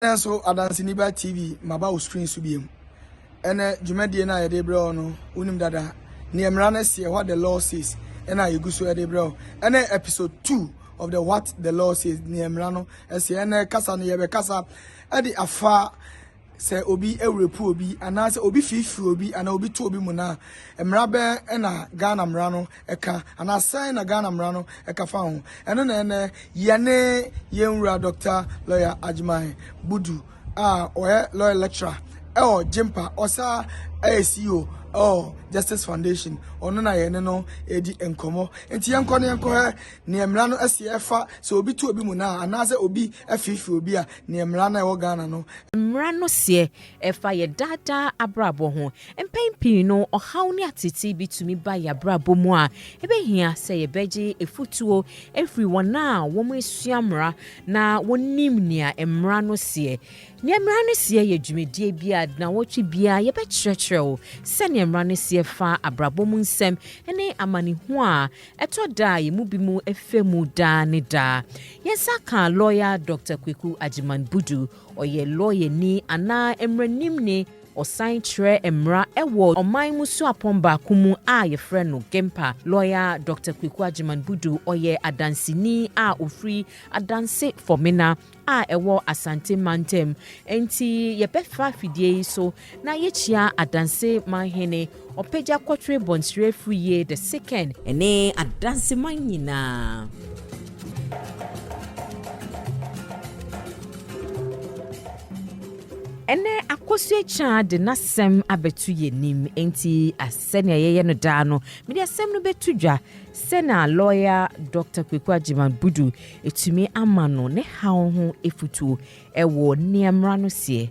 Ɛnnɛ so Adanseni Ba TV mmaba wo screen so biom. Ɛnnɛ dwumadie no a yɛde brɛ wo no wonim dada neɛ mmara no seɛ, what the law says, ɛna yɛgu so de brɛ wo. Ɛnnɛ episode 2 of the what the law says, neɛ mmara no seɛ. Ɛnnɛ kasa no yɛbɛkasa ɛde afa sɛ obi awurepu obi anaasɛ obi firifiri obi anaa obi to obi mu no a, mmara bɛn ɛna Ghana mmara no ka anaa sɛn na Ghana mmara no ka fa ho? Ɛno na ɛnnɛ yɛne yɛn wura Dɔkta Lɔya Agyeman Budu a ɔyɛ Lɔya Lecturer ɛwɔ GYMPA, ɔsaa ɛyɛ CEO ɛwɔ Justice Foundation, ɔno na yɛne no ɛredi nkɔmmɔ. Nti yɛnkɔ no yɛnkɔhɛ neɛ mmara no ɛsi ɛfa sɛ obi to obi mu naa anaasɛ obi ɛfeefe obi a neɛ mmara no a ɛwɔ Ghana no Mmara no seɛ Ɛfa yɛn daa daa abrabɔ ho. Mpɛn pii no, ɔhaw ne ateetee bi tumi ba yɛn abrabɔ mu a, ebehia sɛ yɛbɛgye afotuo afiri wɔn a wɔasua mmara na wɔnim nea mmara no seɛ. Nea mmara no seɛ yɛ dwumadie bi a nnawɔtwe biara yɛbɛkyerɛkyerɛ wo sɛdeɛ mmara no seɛ fa abrabɔ mu nsɛm ne amanehunu a ɛtɔ da a yɛn mu binom fa mu daa ne daa. Yɛn nsa kaa lɔya Dɔkta Kweku Agyeman Budu. Ɔyɛ lɔyani anaa mmaranimni, ɔsan kyerɛ mmara wɔ ɔman mu suapɔn baako mu a wɔfrɛ no GEMPA. Lɔya Dɔkta Kweku Agyeman Budu, ɔyɛ adanseni a ɔfiri Adanse Fɔmena a ɛwɔ Asante mantam. Enti yɛbɛfa afidie yi so Na yekyia Adanseman Hene Ɔpagya Kɔtwere Bonsire Firiye the Second. Ɛne Adanseman nyinaa. Ɛnɛ akɔso akya de n'asɛm abɛto yɛn anim nti sɛnea yɛyɛ no daa no mede asɛm no bɛto dwa sɛna lɔya dr kweku agyeman budu ɛtumi ama no ne haw ho afutuo ɛwɔ nea mmara no seɛ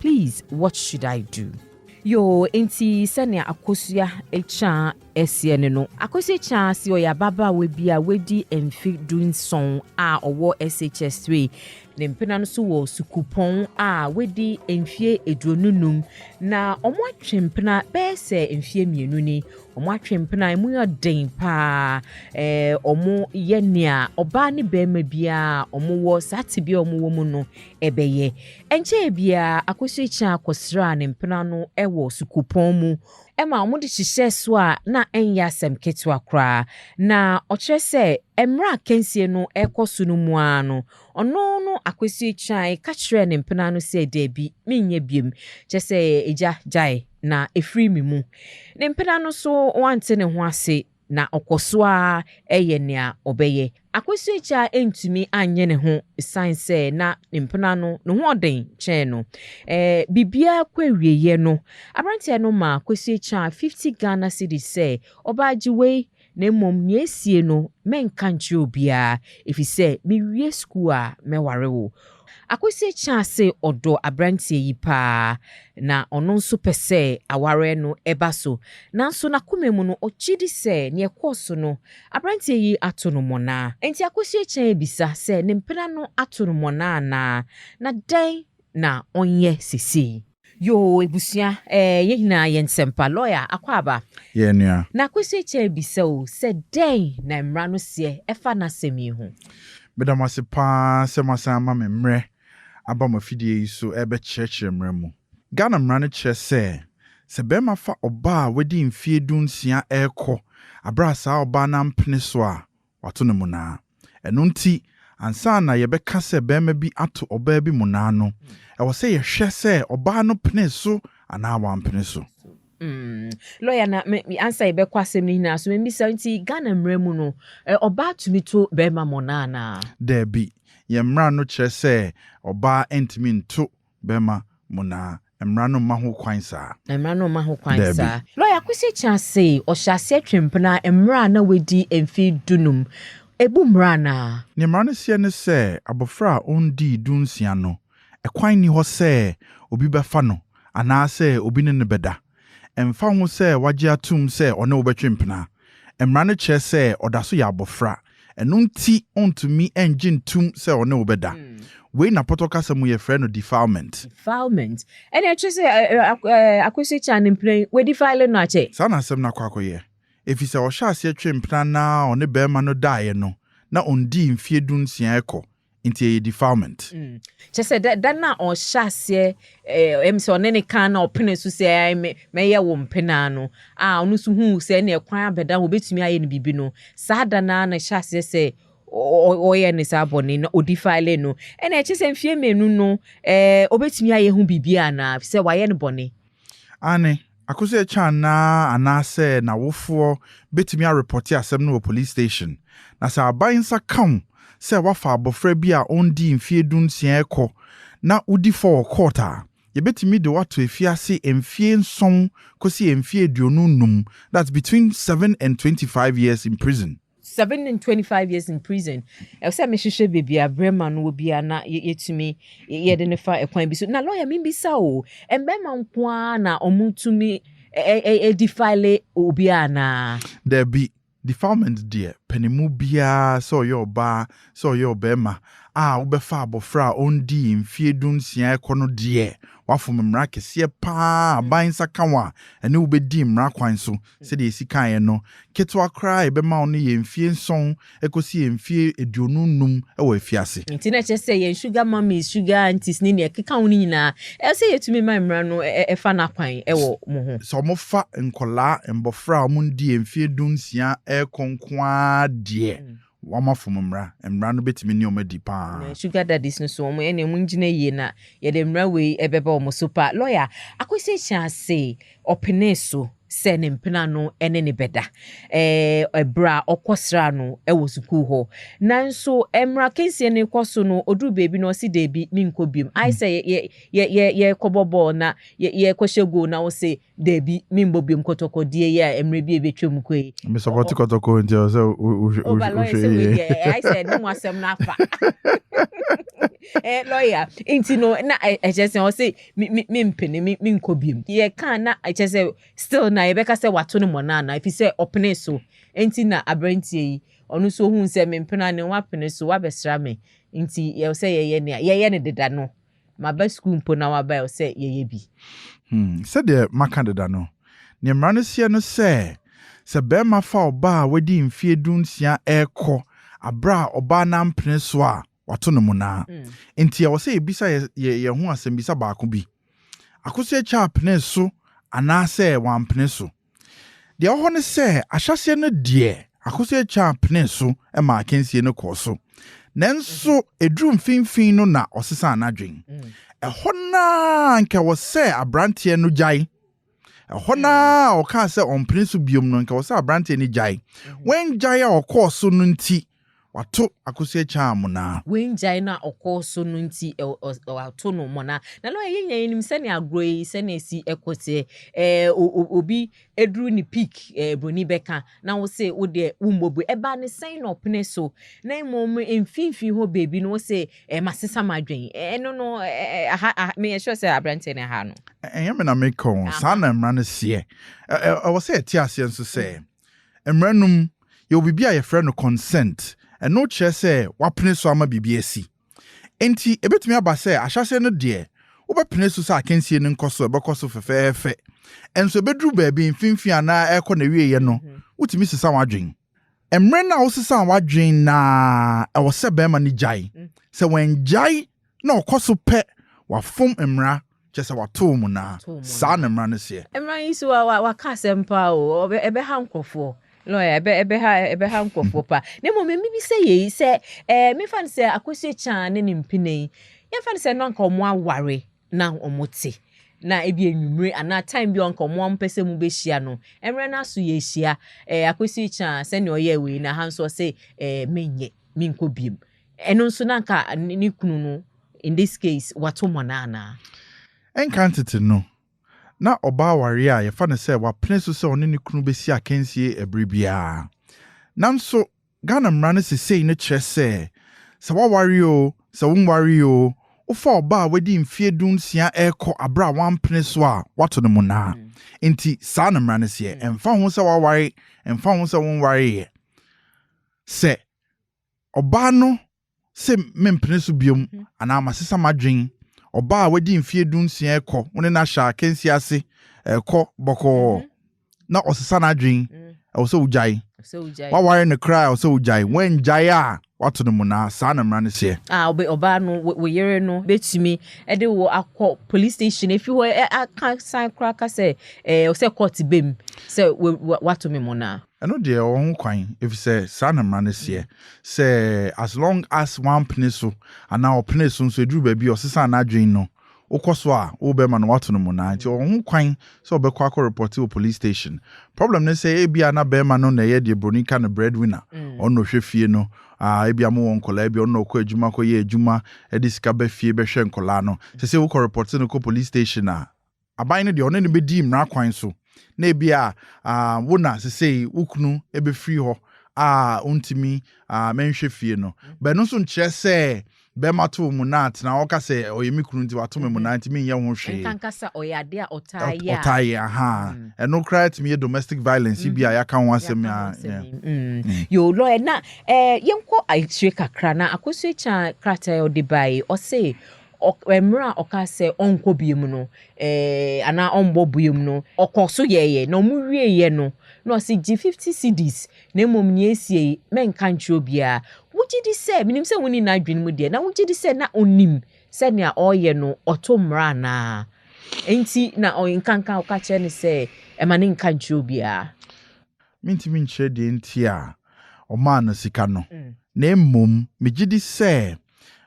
Please what should I do? Yoo enti sɛnea Akosua Akyiaa seɛ ne no. Akosua Akyiaa se ɔyɛ ababaawa bi a wadi mfe du nson a ɔwɔ SHS three. Ne mpena no nso wɔ sukuupɔn a wadi mfeɛ aduonu nnum na wɔatwe mpena bɛyɛ sɛ mfeɛ mmienu ni. Wɔatwe mpena a emu yɛ den paa. Ɛɛ wɔyɛ nea ɔbaa ne barima biara a wɔwɔ saa tebea a wɔwɔ mu no bɛyɛ. Ɛnkyɛe biara, Akosua Achiaa kɔsraa ne mpena no wɔ sukuupɔn mu ma wɔde hyehyɛɛ so a na ɛnyɛ asɛm ketewa koraa. Na ɔkyerɛ sɛ mmerɛ a akansie no rekɔ so no mu ara no, ɔno no Akosua Achiaa ka kyerɛɛ ne mpena no sɛ daabi, menyɛ biom, kyerɛ sɛ agya gyae na ɛfiri me mu. Ne mpena no nso wɔante ne ho ase. na ɔkɔ so ara yɛ nea ɔbɛyɛ. Akwasu Akya antumi anyɛ ne ho esiane sɛ na ne mpena no ne ho ɔden kyɛn no. Biribiara kɔ awieeɛ no, aberanteɛ no maa Akwasu Akya fifty Ghana cedis sɛ, Ɔbaa gye wei, na mmom nea asie no, mɛnka nkyerɛ obiara, ɛfiri sɛ mewie sukuu a, mɛware wo. Akosua kyaa se ɔdɔ aberanteɛ yi paa, na ɔno nso pɛ sɛ awareɛ no ba so. Nanso n'akoma mu no, ɔgye di sɛ nea ɛkɔɔ so no, aberanteɛ yi ato no mmɔna. Enti Akosua kyaa abisa sɛ ne mpena no ato no mmɔna anaa, na dɛn na ɔnyɛ seesei? Yoo ebusua ɛɛ yɛn nyinaa yɛn sɛmpa lɔya akwaaba. Yɛn nua. Na Kwesi Akyɛ rebisa o sɛ dɛn na mmra no seɛ ɛfa n'asɛm yi ho. Meda mo ase paa sɛ moasan ama me mmerɛ aba mo afidie yi so rebɛkyerɛkyerɛ mmara mu. Ghana mmara no kyerɛ sɛ, sɛ barima fa ɔbaa a wadi mfeɛ du nsia rekɔ, berɛ a saa ɔbaa no ampene so a, wato no mmonnaa. Ɛno nti, ansa na yɛbɛka sɛ barima bi ato ɔbaa bi mmonnaa no, ɛwɔ sɛ yɛhwɛ sɛ ɔbaa no penee so anaa wampene so. Lɔya, na ansa yɛbɛkɔ asɛm no nyinaa so, memmisa, nti Ghana mmara mu no, ɔbaa tumi to barima mmonnaa anaa? Dabi. Yɛn mmara no kyerɛ sɛ ɔbaa ntumi nto bɛma mo na mmara no mma ho kwan saa. Na mmara no mma ho kwan saa. Daabi. Lɔya Kwesi Kyah se ɔhyɛ aseɛ twe mpena mmerɛ a na wadi mfe dunum. Ɛbu mmara anaa? Nea mmara no seɛ ne sɛ abɔfra a ɔndii dunsia no, ɛkwan nni hɔ sɛ obi bɛfa no anaasɛ obi ne no bɛda. Ɛmfa ho sɛ wagye atom sɛ ɔne wo bɛtwe mpena, mmara no kyerɛ sɛ ɔda so yɛ abofra, ɛno nti ontumi nnye ntom sɛ ɔne wo bɛda. Wei na pɔtɔ kasa mu yɛfrɛ no defilement. Defilement. Ɛnna ɛkyerɛ sɛ akwasi kyaa ne mpena yi, wɔadifile no akyɛ. Saa na asɛm no akɔ akɔyɛ, efisɛ ɔhyɛɛ aseɛ twee mpena no ara a ɔne barima no daeɛ no na ɔnnii mfeɛ dunsia rekɔ nti ɛyɛ defilement. Mm. Kyɛ sɛ da, da no a ɔhyɛ aseɛ eh, ɛm sɛ ɔne ne kan na ɔpene so sɛ mɛyɛ wo mpenaa no a ɔno nso huu sɛ ɛne ɛkwan abɛda ho ɔbɛtumi ayɛ no biribi no saa da no a na ɛhyɛ aseɛ sɛ ɔyɛ ne saa bɔne na ɔdi file no ɛna ɛkyɛ sɛ mfeɛ mmienu no eh, ɔbɛtumi ayɛ ho biribi anaa sɛ wayɛ no bɔne Aane, akɔsi ɛkyɛ anaa anaasɛ n'awofoɔ bɛtumi arepɔte asɛm no wɔ police station, na sɛ aban nsa ka wo sɛ woafa abɔfra bi a ɔnnii mfeɛ du nsia rekɔ na wodi fɔ wɔ court a, yɛbɛtumi de wo ato afiase mfeɛ nson kɔsi mfeɛ aduonu nnum, that's between seven and twenty five years in prison. Seven and twenty five years in prison ɛwɔ sɛ mehwehwɛ baabi a brɛma no wɔ bi a na yɛ- yɛtumi yɛ- yɛde no fa ɛkwan bi so na lɔya membisa o mbɛrima nko ara na ɔmotumi ɛ- ɛ- ɛ- ɛ- defile obiara anaa Dabi, defilement deɛ panimu biara sɛ ɔyɛ ɔbaa sɛ ɔyɛ ɔbarima a wobɛfa abɔfra a ɔndii mfeɛ du nsia ɛkɔ no deɛ woafom mmara kɛseɛ paa a aban nsa ka wo a ɛne wobɛdi mmara kwan so Sɛdeɛ yɛsi kaeɛ no, ketewa koraa a yɛbɛma wo no yɛ mfeɛ nson kɔsi mfeɛ aduonu nnum wɔ afiase. Enti na ɛkyerɛ sɛ yɛn sugar mummies, sugar aunties ne deɛ ɛkeka ho no nyinaa, ɛsɛ sɛ yɛtumi ma mmara no fa no akwan wɔ wɔn ho. Sɛ wɔfa nkwadaa, mmɔfra a wɔadi mfeɛ dunsia rekɔ nko ara deɛ, Wama fam mmara. Mmara no bɛtumi ne wɔn adi pa ara. Na sugar daddies no so, wɔn ɛneɛ wɔn gyina yie na yɛde mmara wei ɛbɛba wɔn so pa. Lawyer Akwesi hyɛ ase ɔpenee so sɛ ne mpena no ɛne ne bɛda ɛɛ ɛberɛ a ɔkɔ sraa no ɛwɔ sukuu hɔ. Nanso mmara akansie no rekɔ so no, ɔduru baabi na ɔse daabi, menkɔ biom. Ayɛ sɛ yɛ yɛ yɛ yɛ yɛrekɔbɔ bɔɔl na yɛ yɛrekɔhyɛ goal na wo se Dabi, menbɔ biom kɔtɔkɔ deɛ yi a mmerɛ bi a ɛbɛtwa mu kɔ yi. Me support kɔtɔkɔ nti ɛwɔ sɛ wohwɛ Oba lawyer sɛ wei deɛ ɛyɛ ayɛ sɛ ɛne mu asɛm no afa. Ɛɛ lawyer nti no na ɛkyɛ sɛ ɔse mempene me menkɔ biom. Yɛka a na ɛkyɛ sɛ still na yɛbɛka sɛ wato no mmɔna anaa ɛfiri sɛ ɔpenee so nti na aberanteɛ yi ɔno nso ohuu sɛ mempene a ne ho apene so wabɛsra me nti ɛwɔ sɛ yɛyɛ nea yɛyɛ no deda no Maba sukuu mpo na waba ɛ sɛ yɛyɛ bi. Hmm, sɛdeɛ maka deda no, deɛ mmara no seɛ no sɛ, sɛ barima fa ɔbaa a wadi mfeɛ du nsia rekɔ aberɛ a ɔbaa no ampene so a, wato no monaa. Enti ɛwɔ sɛ yɛbisa yɛ yɛn ho asɛmmisa baako bi, Akosua Kyah penee so anaasɛ wampene so? Deɛ ɛwɔ hɔ ne sɛ, ahyɛaseɛ no deɛ, Akosua Kyaan penee so maa akansie no kɔɔ so, nanso ɛduruu mfimfini no na ɔsesaa n'adwene. Ɛhɔ no ara anka ɛwɔ sɛ aberanteɛ no gyae. Ɛhɔ no ara a ɔkaa sɛ ɔmpene so bio no, anka ɛwɔ sɛ aberanteɛ no gyae. Wangyae a ɔkɔɔ so no nti, Wato akosua kyaa amona. Wangyae no a ɔkɔɔ so no nti wɔato no mona. Na lɔya, yɛn nyinaa yɛnim sɛnea agorɔ yi sɛnea ɛsi kɔ teɛ. Ɛɛ obi duru ne peak ɛɛ broni bɛka na wo se wo deɛ wommɔ bue. Ɛbaa ne sɛn na ɔpene so na mmom mfimfini hɔ baabi no wo se ɛɛ masesa m'adwene. Ɛno no ɛɛ aha aha meyɛ sure sɛ aberanteɛ no ɛhaa no. Ɛnyɛ me na meka o, saa na mmara no seɛ. Ɛwɔ sɛ yɛte aseɛ nso sɛ. Mmaranom, yɛwɔ biribi a yɛfrɛ no consent. Ɛno kyerɛ sɛ woapene so ama biribi asi. Enti ebetumi aba sɛ ahyɛase no deɛ, wobɛpene so sɛ akansie no nkɔ so, ɛbɛkɔ so fɛfɛɛfɛ. Nso ebeduru baabi mfimfini anaa ɛrekɔ n'awieeɛ no, wotumi sesa w'adwene. Mmere no a wosesaa w'adwene no ara, ɛwɔ sɛ barima no gyae. Sɛ wangyae na ɔkɔ so pɛ wafom mmara, kyerɛ sɛ watow mmonnaa, saa na mmara no seɛ. Mmara yi so a waka asɛm paa o, ɛbɛha nkurɔfoɔ, ɛbɛha nkurɔfoɔ paa. Na mmom mebisa yei sɛ, memfa no sɛ Akosua Kyaa ne ne mpena yi, yɛmfa no sɛ na anka wɔaware na wɔte, na ebi anwummere anaa time bi a anka wɔmpɛ sɛ mobɛhyia no, mmerɛ no ara so yɛahyia, Akosua Kyaa sɛdeɛ ɔyɛɛ wei no, aha nso ɔse menyɛ, menkɔ biom. Ɛno nso na anka ne kunu no, in this case, wato mmonnaa anaa? Nkrantete no, na ɔbaa awareɛ a yɛfa no sɛ wapene so sɛ ɔne ne kunu bɛsi akansie ɛberɛ biara. Nanso, Ghana mmara no sesei no kyerɛ sɛ, sɛ woaware oo, sɛ wonwaree oo, wofa ɔbaa a wadi mfeɛ du nsia rekɔ aberɛ a wampene so a, woato no mmonnaa. Enti, saa na mmara no seɛ. Ɛmfa ho sɛ woaware, ɛmfa ho sɛ wonwareeɛ. Sɛ. Ɔbaa no se mempene so biom anaa masesa m'adwene. Ɔbaa a wadi mfeɛ dunsia rekɔ, wo ne no ahyɛ akansie ase, ɛrekɔ bɔkɔɔ na ɔsesa n'adwene, ɛwɔ sɛ wogyae. Woaware no koraa a, ɛwɔ sɛ wogyae. Woangyae a, woato no mmonnaa. Saa na mmara no seɛ. A, ɔbɛ, ɔbaa no, wo, wo yere no bɛtumi de wo akɔ police station, ɛfiri hɔ ɛ, aka san koraa ka sɛ, ɛɛ, sɛ court bɛ mu, sɛ wa, wa, wato me mmonnaa. Ɛno deɛ ɔwɔ ho kwan efisɛ saa na mmara no seɛ sɛ as long as wampene so anaa ɔpenee so nso eduru baabi a ɔsesaa n'adwene no wokɔ so a wobɛma no wato no mmonnaa nti ɔwɔ ho kwan sɛ ɔbɛkɔ akɔ repɔte wɔ police station. Problem ne sɛ ebia na barima no na ɛyɛ deɛ broni ka no breadwinner ɔno na ɔhwɛ fie no ah ebia mowɔ nkɔlaa ebia ɔno na ɔkɔ adwuma kɔyɛ adwuma de sika ba fie bɛhwɛ nkɔlaa no sɛ sɛ wokɔ repɔte no kɔ police station a aban no deɛ ɔne no bɛdi mmara kwan so na ebia wo na sesei wo kunu bɛfiri hɔ a wontumi menhwɛ fie no bɛ no nso nkyerɛ sɛ bɛma to mu na tena ɔka sɛ ɔyɛ me kunu nti wato me mu na nti menyɛ ho hwee nkankasa ɔyɛ adeɛ a ɔtaa yɛ a ɔtaa yɛ aha ɛno koraa tumi yɛ domestic violence bi a yɛaka ho asɛm a yo lɔɛ na yɛnkɔ akyire kakra na akosua kya krataa ɔde bae ɔse Ɔ, mmerɛ a ɔkaa sɛ ɔnkɔ biom no, ɛɛ, anaa ɔmbɔ biom no, ɔkɔ so yɛeɛ, na wɔn wieeɛ no, na ɔse, Gye fifty cedis, na mmom nea ɛsie yi, mɛnka nkyerɛ obiara. Wogye di sɛ, menim sɛ wonni n'adwene mu deɛ, na wogye di sɛ na ɔnim sɛ nea ɔreyɛ no, ɔto mmara anaa? Enti na ɔnkanka, ɔka kyerɛ no sɛ, Ɛma no nka nkyerɛ obiara. Mintumi nkyerɛ deɛ nti a wɔmaa no sika no, na mmom megye di sɛ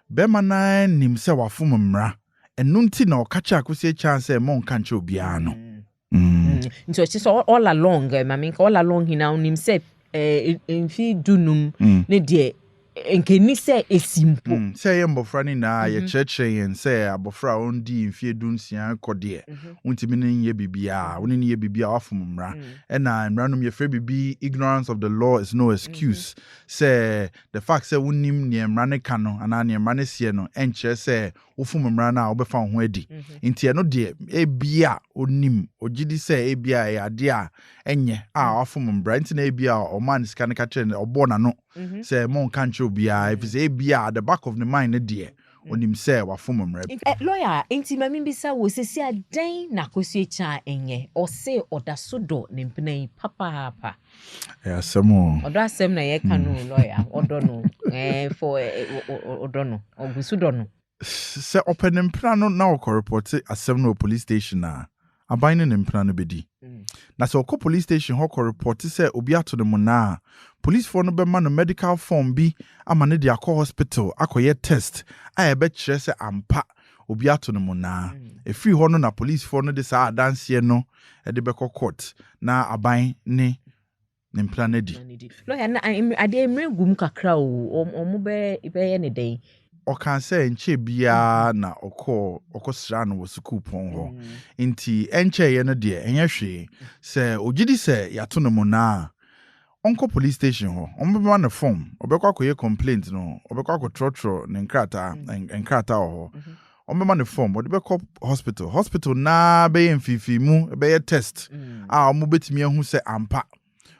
barima no ara nim sɛ wafom mmara, ɛno nti na ɔka kyerɛɛ Akwasi Akyang sɛ monnka nkyerɛ obiara no. Nti ɔkyerɛ sɛ all along, eh, ma menka, all along he na ɔnim sɛ eh, mfe du-num ne deɛ Nka enni sɛ esi mpo. Sɛ yɛn mmofra no nyinaa a yɛkyerɛkyerɛ yɛn sɛ abofra a onnii mfe dunsia kɔ deɛ, wontumi ne no nyɛ biribiara, wo ne no yɛ biribiara a woafom mmara. Ɛna mmara no mu yɛfrɛ biribi ignorance of the law is no excuse, sɛ the fact sɛ wonnim nea mmara no ka no anaa nea mmara no seɛ no nkyerɛ sɛ wofom mmara no a wobɛfa wo ho adi. Enti ɛno deɛ ebia onim, ogye di sɛ ebia ɛyɛ adeɛ a ɛnyɛ a wafom mmara nti na ebia ɔmaa no sika no ka kyerɛɛ no, ɔbɔɔ n'ano Mm-hmm. sɛ monka nkyerɛ obiara ɛfiri sɛ ebia at the back of the mind no deɛ onim mm. sɛ wafom mmara bi. Eh, lawyer nti ma mebisa wo sɛsi a dɛn na akosua kyaa ɛnyɛ ɔse ɔda so dɔ ne mpena yi papaapa ɛyɛ asɛm o ɔdɔ asɛm na yɛka no mm. lawyer ɔdɔ no eh, fo eh, ɔdɔ no ɔgu so dɔ no Sɛ ɔpɛ ne mpena no na ɔkɔrepɔte asɛm no wɔ polis station a, aban ne ne mpena no bedi. Na sɛ ɔkɔ polis station hɔ kɔrepɔte sɛ obi ato no mmonnaa a, polisfoɔ no bɛma no medical form bi ama no de akɔ hospital akɔyɛ test a ɛbɛkyerɛ sɛ ampa obi ato no mmonnaa. Ɛfiri hɔ no na polisfoɔ no de saa adanseɛ no de bɛkɔ court na aban ne ne mpena no adi. Lɔya no, adeɛ mmerɛ gu mu kakra o, wɔbɛyɛ ne dɛn? Ɔkaa sɛ ɛnkyɛɛ biara mm-hmm. na ɔkɔɔ ɔkɔsraa no wɔ sukuupɔn hɔ. Mm-hmm. Nti ɛnkyɛeɛ no deɛ ɛnyɛ hwee. Sɛ ɔgye di sɛ yɛato no mu naa a, ɔnkɔ police station hɔ. Wɔbɛma no fom. Ɔbɛkɔ akɔyɛ complaint no. Ɔbɛkɔ akɔtrɔtrɔ ne nkrataa mm-hmm. nkrataa wɔ hɔ. wɔbɛma no fɔm wɔde bɛkɔ hospital hospital naa bɛyɛ mfimfini mu bɛyɛ test mm. a wɔbɛtumi ahu sɛ ampa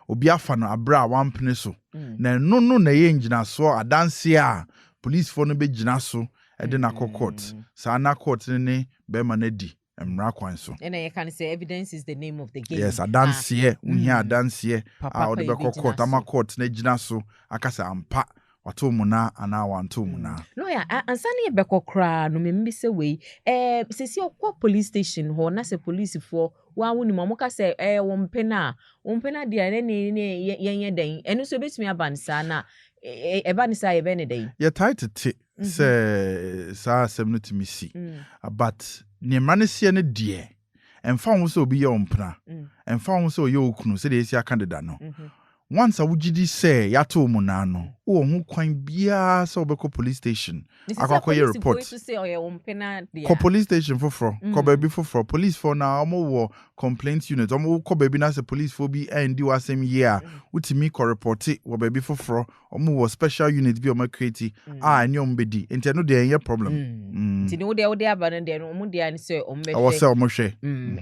obi afa no abere a wampene so mm. na ɛno no na ɛyɛ ngyinasoɔ adanseɛ a polisifoɔ no bɛgyina so de no akɔ court mm. saa na court no ne bɛrima no adi mmara kwan so. ɛna yɛka no sɛ evidence is the name of the game. yes adanseɛ wohia adanseɛ a wɔde bɛkɔ court ama court no agyina so aka sɛ ampa Watoo mmonnaa anaa wantoo mmonnaa? Lɔya, a ansa na yɛbɛkɔ koraa no memmisa wei. Ɛɛ, seesei wokɔ police station hɔ na sɛ polisifoɔ, wo ara wonim a, wɔka sɛ ɛyɛ wo mpena a, wo mpena deɛ a ɛnneɛ ne yɛnyɛ dɛn? Ɛno nso ɛbɛtumi aba no saa na ɛba no saa a yɛbɛyɛ no dɛn? Yɛtae tete sɛ saa asɛm no tumi si, but deɛ mmara no seɛ no deɛ, Ɛmfa ho sɛ obi yɛ wo mpena, ɛmfa ho sɛ ɔyɛ wo kunu, sɛdeɛ yɛasi aka deda no, once a wogye di sɛ yɛato wo mmonnaa no, wowɔ ho kwan biara sɛ wobɛkɔ police station akɔ akɔyɛ report. Kɔ police station foforɔ, kɔ baabi foforɔ. Policefoɔ no ara, wɔwɔ complaint unit. Wɔkɔ baabi na sɛ policefoɔ bi andi w'asɛm yie a, wotumi kɔ repɔte wɔ baabi foforɔ ɔmo wɔ special unit bi a ɔmo ɛkreti a ɛne ɔmo bɛ di nti ɛno deɛ ɛnyɛ problem. nti ne wo deɛ wode aba no deɛ no ɔmo deɛ ne sɛ ɔmo bɛ hwɛ ɛwɔ sɛ ɔmo hwɛ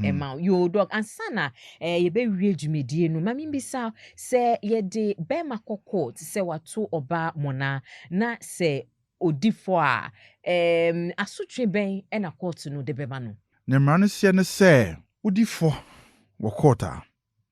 ɛma yoo dɔk ansa na ɛɛ yɛbɛ wie dwumadie no mami bisa sɛ yɛde bɛɛma kɔ court sɛ wato ɔbaa mona na sɛ ɔdi fɔ a ɛɛm asotwe bɛn ɛna court no de bɛma no. Ne mmara no seɛ ne sɛ wodi fɔ wɔ court a.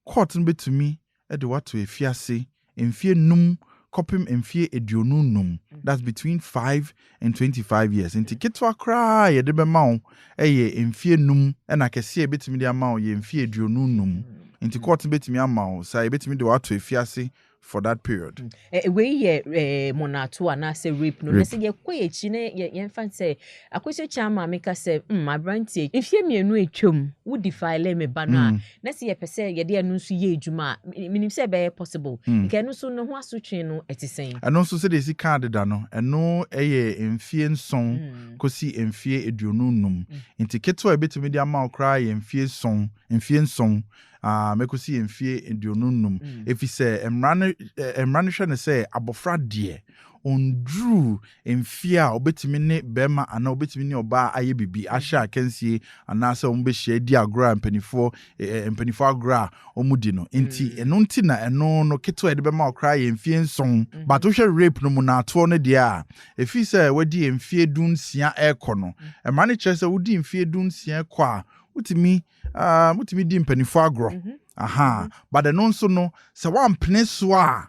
Court no betumi de wo ato afiase mfeɛ nnum kɔpem mfeɛ aduonu nnum, that's between five and twenty five years. Nti ketewa koraa a yɛde bɛma wo yɛ mfeɛ nnum ɛna kɛseɛ a yɛbetumi de ama wo yɛ mfeɛ aduonu nnum. Nti court no betumi ama wo saa, yɛbetumi de wo ato afiase for that period. Mm. Eh, wei yɛ eh, monato anaasɛ rape no na sɛ yɛkɔ yɛakyi na yɛmfa sɛ akɔsɛ kyi ama meka sɛ mm, aberanteɛ mfeɛ mmienu atwam wo defile me ba no a mm. na sɛ yɛpɛ sɛ yɛde ɛno nso yɛ adwuma a menim sɛ ɛbɛyɛ possible mm. nka ɛno nso ne ho asotwe no ɛte sɛn ɛno nso sɛdeɛ ɛsi kaa deda no ɛno ɛyɛ mfeɛ nson mm. kɔsi mfeɛ aduonu num mm. nti ketewa a ɛbɛtumi de ama wo koraa yɛ mfeɛ nson mfeɛ nson Ah, mɛkɔsi yɛ mfeɛ aduonu nnum. Ɛfiri sɛ mmara no, eh, mmara no hwɛ no sɛ abɔfra deɛ ɔnduru mfeɛ a ɔbɛtumi ne barima anaa ɔbɛtumi ne ɔbaa ayɛ biribi, ahyɛ akansie anaasɛ wɔbɛhyia adi agorɔ a mpanimfoɔ, eh, eh, mpanimfoɔ agorɔ a wɔdi no. Enti ɛno nti na ɛno no ketewa a yɛde bɛma wo koraa yɛ mfeɛ nson. But wohwɛ rape no mu no atoɔ no deɛ a, ɛfiri sɛ wadi mfeɛ dunsia rekɔ no, mmara no kyerɛ sɛ wodi mfeɛ dunsia kɔ a, wotumi Uh, motumi di mpanimfoɔ agorɔ. Mm -hmm. Aha. Mm -hmm. But ɛno nso no, sɛ woampene so a,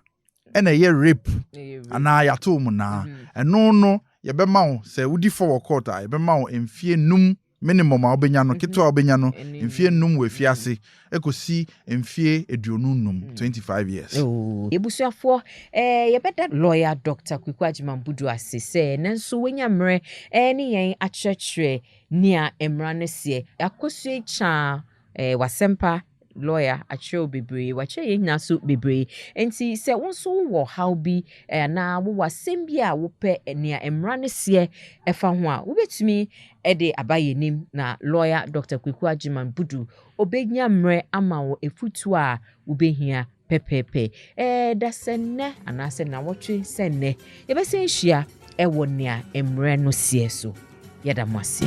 ɛna ɛyɛ rape. Anaa yɛato mu naa. Mm-hmm. Ɛno no, yɛbɛma wo sɛ wodi fɔ wɔ court a, yɛbɛma wo mfie num minimum a wobɛnya no, mm-hmm. ketewa a wobɛnya no, mfie num wɔ afie mm-hmm. ase, ɛkɔsi mfie aduonu num, 25 years. Oh. Yɛbusuafoɔ, eh, yɛbɛda lawyer Dr. Kweku Agyemang Budu ase sɛ nanso wanya mmerɛ eh, ne yɛn akyerɛkyerɛ Nea mmara no seɛ. Yɛakɔ so atwa eh, w'asɛmpa lɔya akyerɛ wo bebree, wakyerɛ yɛn nyinaa so bebree. Enti sɛ wo nso wowɔ ɔhaw bi eh, anaa wowɔ asɛm bi a wopɛ eh, nea mmara no seɛ ɛfa ho a, wobɛtumi de aba yɛn anim na lɔya Dɔkta Kwaku Agyeman Budu ɔbɛnya mmerɛ ama wo afutuo a wobɛhia pɛpɛɛpɛ. Ɛɛ, da sɛ nnɛ anaasɛ nnawɔtwe sɛ nnɛ, yɛbɛsan ahyia wɔ nea mmerɛ no seɛ so. Yɛda mo ase.